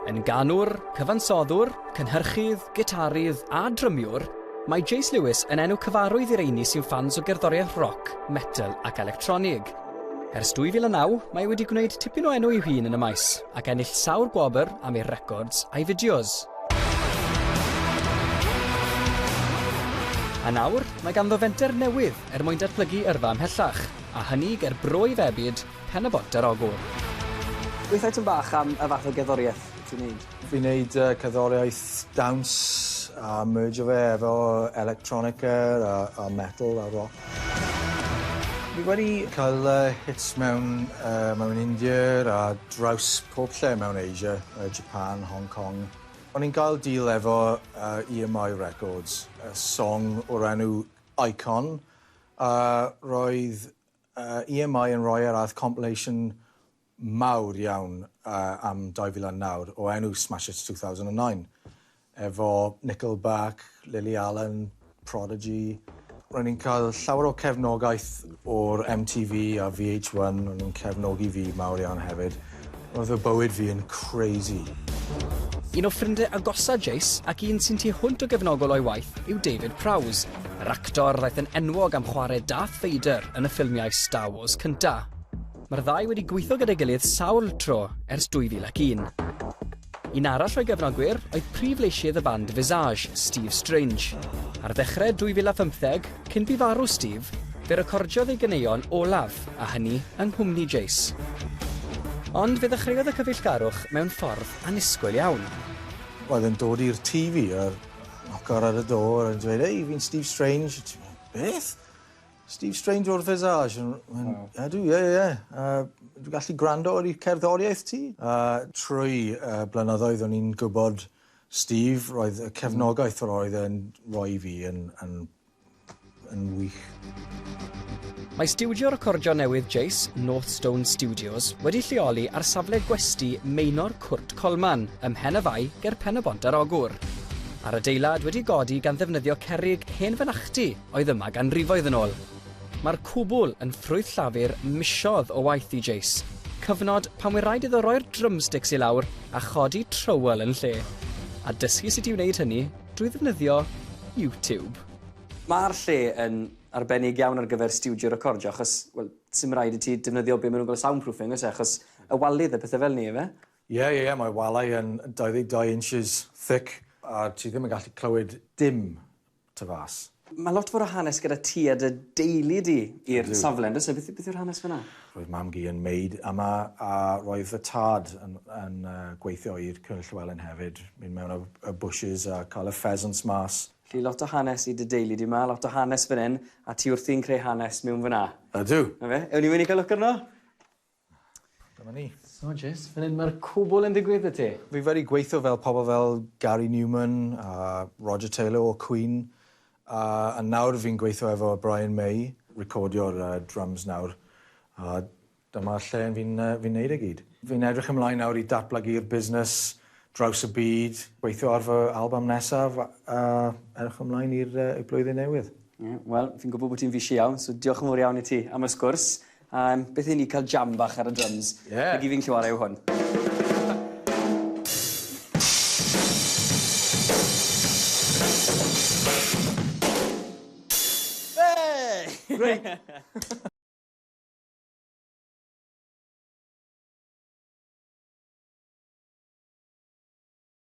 Yn ganwr, cyfansoddwr, cynhyrchydd, gitarydd a drymiwr, mae Jace Lewis yn enw cyfarwydd i reini sy'n ffans o gerddoriaeth roc, metal ac electronig. Ers 2009, mae wedi gwneud tipyn o enw i'w hun yn y maes ac ennill sawl gwobr am ei records a'i fideos. A nawr, mae ganddo fenter newydd er mwyn datblygu yrfa ymhellach. A hynny ger brwyf ebyd pen y bont ar ogwr. Gweithai tym bach am y fath o gerddoriaeth ti'n neud? Fi'n neud yy cerddoriaeth dawns a merjo fe efo electronica a a metal a rock. Fi wedi ca'l yy hits mewn yy mewn India a draws pob lle mewn Asia yy Japan, Hong Kong. O'n i'n gael deal efo yy EMI Records, y song o'r enw Icon A roedd EMI yn rhoi ar ath compilation mawr iawn am 2009 o enw Smash Hits 2009 efo Nickelback, Lily Allen, Prodigy. Ro'n ni'n cael llawer o cefnogaeth o'r MTV a VH1, o'n nhw'n cefnogi fi mawr iawn hefyd. Oedd fy bywyd fi yn crazy. Un o ffrindie agosa Jace, ac un sy'n tu hwnt o gefnogol o'i waith, yw David Prowse, yr actor ddaeth yn enwog am chwarae Darth Vader yn y ffilmiau Star Wars cynta'. Mae'r ddau wedi gweithio gyda'i gilydd sawl tro ers 2001. Un arall o'i gefnogwyr oedd prif leisydd y band Visage, Steve Strange. Ar ddechrau 2015, cyn bu farw Steve, fe recordiodd ei ganeuon olaf, a hynny yng nghwmni Jace. Ond fe ddechreuodd y cyfeillgarwch mewn ffordd annisgwyl iawn. Oedd e'n dod i'r tŷ fi a noco ar y do a dweud, 'Hei, fi'n Steve Strange'. Ti'n meddwl, 'Beth? Steve Strange o'r Visage. Yn, wow. Ydw, ie, ie, ie. Uh, dwi'n gallu gwrando ar ei cerddoriaeth ti. Uh, trwy uh, blynyddoedd o'n i'n gwybod Steve, roedd y cefnogaeth yr oedd e'n rhoi i fi yn, yn, yn wych. Mae stiwdio recordio newydd Jace, North Stone Studios, wedi lleoli ar safle gwesti Meinor Cwrt Colman, ym Mhen y Fai, ger Pen-y-bont ar Ogwr. A'r adeilad wedi godi gan ddefnyddio cerrig hen fynachdy oedd yma ganrifoedd yn ôl. Mae'r cwbl yn ffrwyth llafur misodd o waith i Jace, cyfnod pan fu raid iddo roi'r drumsticks i lawr a chodi trywel yn lle, a dysgu sut i wneud hynny drwy ddefnyddio YouTube. Mae'r lle yn arbennig iawn ar gyfer stiwdio recordio achos, wel, 'sdim raid i ti defnyddio be maen nhw'n galw soundproofing, oes e, achos y walydd a pethau fel 'ny, ife? Ie, ie, ie, mae walau yn 22 inches thick a ti ddim yn gallu clywed dim tu fas. Mae lot fawr o hanes gyda ti a dy deulu di i'r safle, yn does e? Beth, beth yw'r hanes fyna? Roedd mam-gu yn maid yma a roedd y tad yn, yn uh, gweithio i'r Cyrn Llywelyn hefyd. Mynd mewn y, y bushes a cael y pheasants mas. Felly lot o hanes i dy deulu di yma, lot o hanes fan hyn, a ti wrthi'n creu hanes mewn fyna. Ydw. Na fe? Ewn ni mynd i cael look arno? Dyma ni. So Jess, fan 'yn ma'r cwbwl yn digwydd i ti. Fi wedi gweithio fel pobl fel Gary Numan a Roger Taylor o Queen a a nawr fi'n gweithio efo Brian May. Recordio'r yy drums nawr a dyma lle yn fi'n yy fi'n neud e gyd. Fi'n edrych ymlaen nawr i datblygu'r busnes draws y byd, gweithio ar fy album nesaf a a edrych ymlaen i'r yy i'r blwyddyn newydd. Ie, wel, fi'n gwbo bo' ti'n fishi iawn, so diolch yn fowr iawn i ti am y sgwrs. A yym beth i ni ca'l jam bach ar y dryms. Ie. Ag i fi'n gallu 'ware' yw hwn. Wei! Reit.